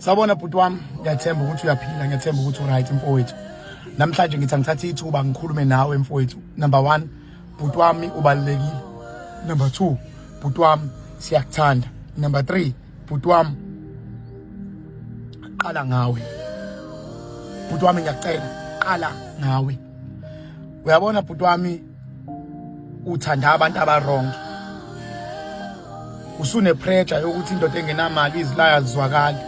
Sabona bhuti wami ngiyathemba ukuthi uyaphila ngiyathemba ukuthi uright mfowethu namhlanje ngithi angithathe ithuba ngikhulume nawe mfowethu number 1 bhuti wami ubalekile number 2 bhuti wami siyakuthanda number 3 bhuti wami qala ngawe bhuti wami ngiyacela qala ngawe uyabona bhuti wami uthanda abantu abarong usunepressure yokuthi indoda engenamali izilaya zizwakali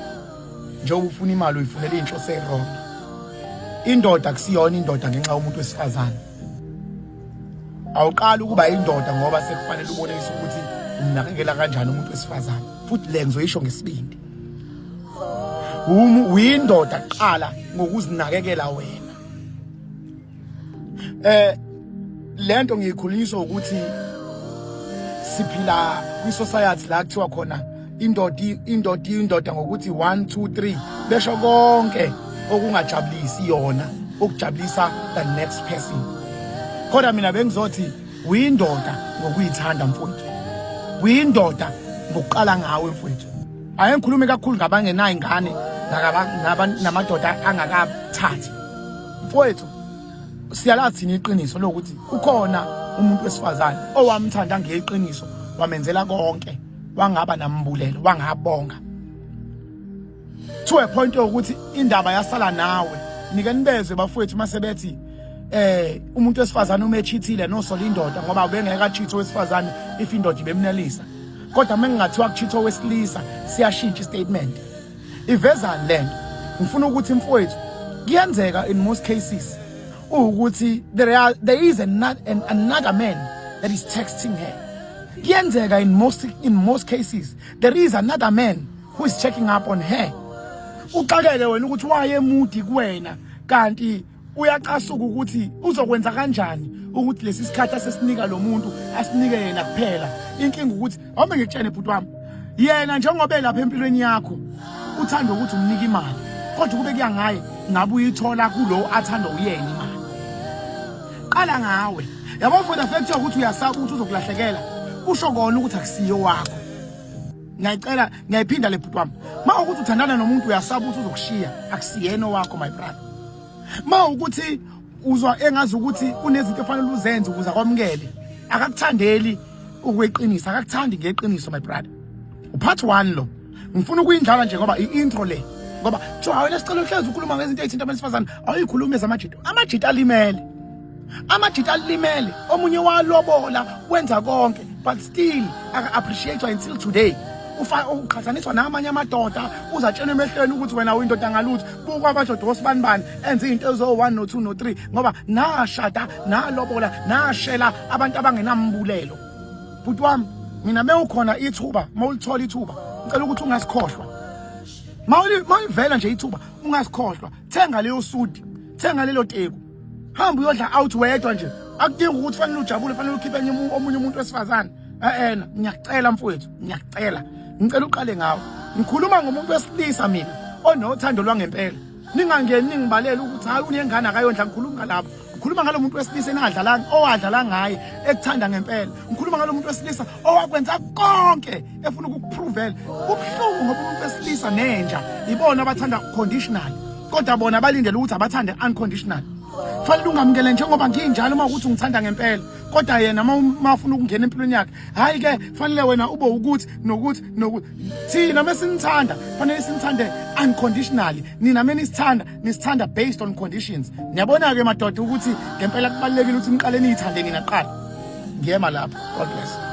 njengoba ufuna imali uyifunela inhloso erong indoda kusiyona indoda ngenxa yomuntu wesifazane awuqali ukuba indoda ngoba sekufanele ubonise ukuthi umnakekela kanjani umuntu wesifazane futhi le ngizoyisho ngesibindi uyindoda qala ngokuzinakekela wena eh lento ngiyikhuliswa ukuthi siphila kwi society la kuthiwa khona indoda indoda indoda ngokuthi 1 2 3 besho konke okungajabulisi yona ukujabulisa the next person kodwa mina bengizothi uyindoda ngokuyithanda mfowethu uyindoda ngokuqala ngawe mfowethu ake ngikhulume kakhulu ngabangenayo ingane namadoda angakathathi Mfowethu siyalazi thina iqiniso lokuthi ukhona umuntu wesifazane owamthanda ngeqiniso wamenzela konke wangaba nambulelo wangabonga to a point yokuthi indaba yasala nawe nike nibezwe bafowethu mase bethi eh umuntu wesifazane uma echithile nosola indoda ngoba ubengeke achithe owesifazane if indoda ibemnelisa kodwa uma ngingathiwa kuchitha owesilisa siyashintsha istatement ivezani lento ngifuna ukuthi mfowethu kuyenzeka in most cases ukuthi there are there is another, an, another man that is texting her kuyenzeka in most in most cases there is another man who is checking up on her uxakeke wena ukuthi wayemudi kuwena kanti uyacasuka ukuthi uzokwenza kanjani ukuthi lesi sikhathi asesinika lo muntu asinike yena kuphela inkinga ukuthi awume ngikutshene bhuti wami yena njengoba elapha empilweni yakho uthanda ukuthi umnike imali kodwa kube kuya ngaye ngabe uyithola kulowo athanda uyena imali qala ngawe yabo for the fact yokuthi uyasaba ukuthi uzokulahlekela kusho kona ukuthi akusiyo wakho ngiyayicela ngiyayiphinda le bhuti wami ma ukuthi uthandana nomuntu uyasaba ukuthi uzokushiya akusiyena owakho my brother ma ukuthi uzwa engazi ukuthi kunezinto efanele uzenze ukuze akwamukele akakuthandeli ukweqiniso akakuthandi ngeqiniso my brother upart 1 lo ngifuna ukuyindlala nje ngoba i-intro le ngoba kuthiwa awena sicela uhlezi ukhuluma ngezinto ezithinta abesifazane awuyikhulume zamajita amajita alimele amajita alimele omunye walobola wenza konke but still aka-appreciatwa until today uqhathaniswa namanye amadoda uzatshelwa emehlweni ukuthi wena uyindoda ngalutho buka amadoda wosibani bani enze izinto ezo-one no-two no-three ngoba nashada nalobola nashela abantu abangenambulelo bhuti wami mina mewukhona ithuba mawulithola ithuba ngicela ukuthi ungasikhohlwa mawulivela nje ithuba ungasikhohlwa thenga leyo sudi thenga lelo teku hamba uyodla out wedwa nje akudingi ukuthi fanele ujabule fanele ukhiphe enye omunye umuntu wesifazane eena ngiyacela mfowethu ngiyacela ngicela uqale ngawo ngikhuluma ngomuntu wesilisa mina onothando lwangempela ningangeni ningibalele ukuthi hayi unengane akayondla ngikhuluma ngalapho ngikhuluma ngalo muntu wesilisa enadlalanga owadlala ngaye ekuthanda ngempela ngikhuluma ngalo muntu wesilisa owakwenza konke efuna ukukupruvela ubuhlungu ngoba umuntu wesilisa nenja ibona abathanda conditional kodwa bona balindele ukuthi abathande unconditional fanele ungamukele njengoba nginjalo uma ukuthi ungithanda ngempela kodwa yena uma afuna ukungena empilweni yakhe hhayi ke fanele wena ube ukuthi nokuthi nokuthi thina uma sinithanda fanele sinithande unconditionally nina uma nisithanda nisithanda based on conditions niyabona-ke madoda ukuthi ngempela kubalulekile ukuthi niqale niyithande nina kuqala ngiyema lapho god bless